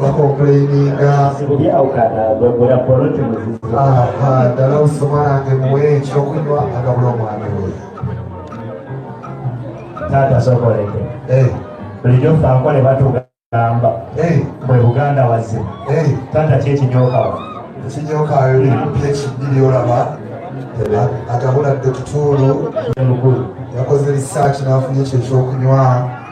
bakomplaininga ddala osoma nange muwe ekyokunywa agabula omwami we taata sokoleke eh. bulijjo fe akole batugamba eh. mwe buganda wazima eh. taata kyekinyokawa ekinyokayo ekibiri olaba agabula dokituulu yakoze risaaki n'afunye ekyo ekyokunywa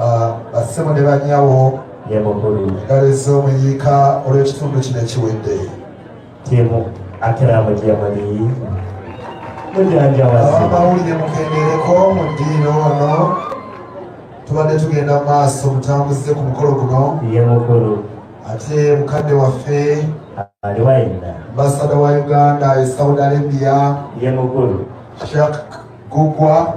ah, bassebo ne banyawo ngalo ez'omuyiika olw'ekitundu kino ekiwedde timu akiramu jamani mujanjawasiabamawulire mukendereko mu ddiiro ono tubadde tugenda mu maaso mutambuze ku mukolo guno ye mukulu ate mukadde waffe aliwaina ambasada wa uganda e saudi arabia ye mukulu shak gugwa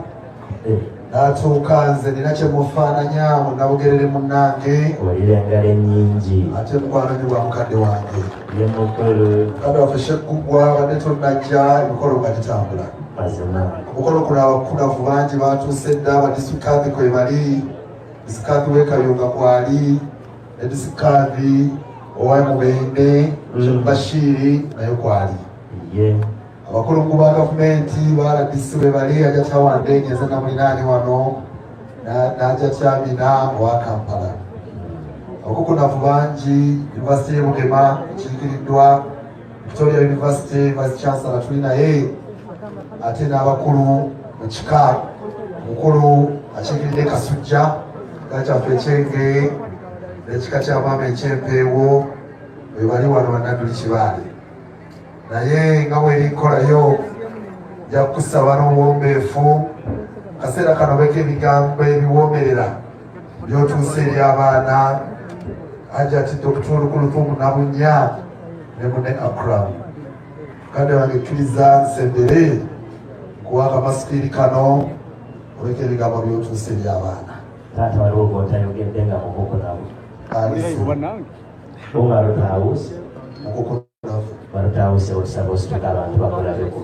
eh. natuuka nze nina kyemufaananya munabugerere munange olira engalo enyingi ate mukwano nyo bwa mukadde wange ye mukulu mukadde waffe sheggugwa badde tonajja emikolo nga gitambula mazima omukolo kuno abakunavu bangi batuuse dda abadisikaadhi kwe bali disikaadhi wekayunga kwali ne disikaadhi owaye mubende mm. bashiiri naye kwali ye yeah. abakulungu ba gavumenti ba rdc bwe bali ajja kyawandeege nze namulinaani wano n'ajja kyamina owa kampala okukunavu bangi yunivasite y'e bugema ekirikiriddwa victoria yunivasite vice chancellor tuli naye ate n'abakulu mu kika mukulu akiikiridde kasujja kika kyaffe ekyenge n'ekika kya maama ekyempeewo bwe bali wano banadduli kibaale naye nga bwerinkolayo nja kukusaba n'obuwombeefu kaseera kano beka ebigambo ebiwoomerera byotuusa eri abaana hajati dokita olukulutumu nabunya ne mune akram kade wange kkiriza nsembere kuwa akamasukiri kano oleka ebigambo byotuusa eri abaana taata waliwo gwotayogedde nga mukoko nawe ali umar taus mukoko barutawo se osaba osituka abantu bakulabeko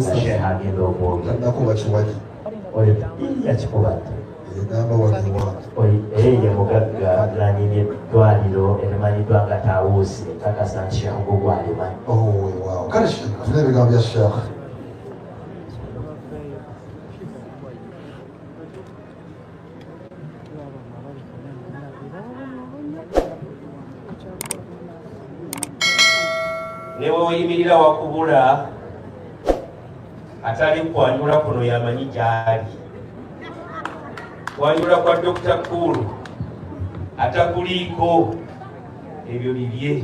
nga sheha agenda okwogera oyo yakikuba dda eye mugagga nanyini eddwaliro erimanyiddwa nga tawuusi kakasa nti sheekh gugu alimanyi kale tuna ebigambo bya sheekh ne weoyimirira wakubula atali kwanjula kuno yamanyi gyali kwanjula kwa dokita kuulu atakuliiko ebyo bibye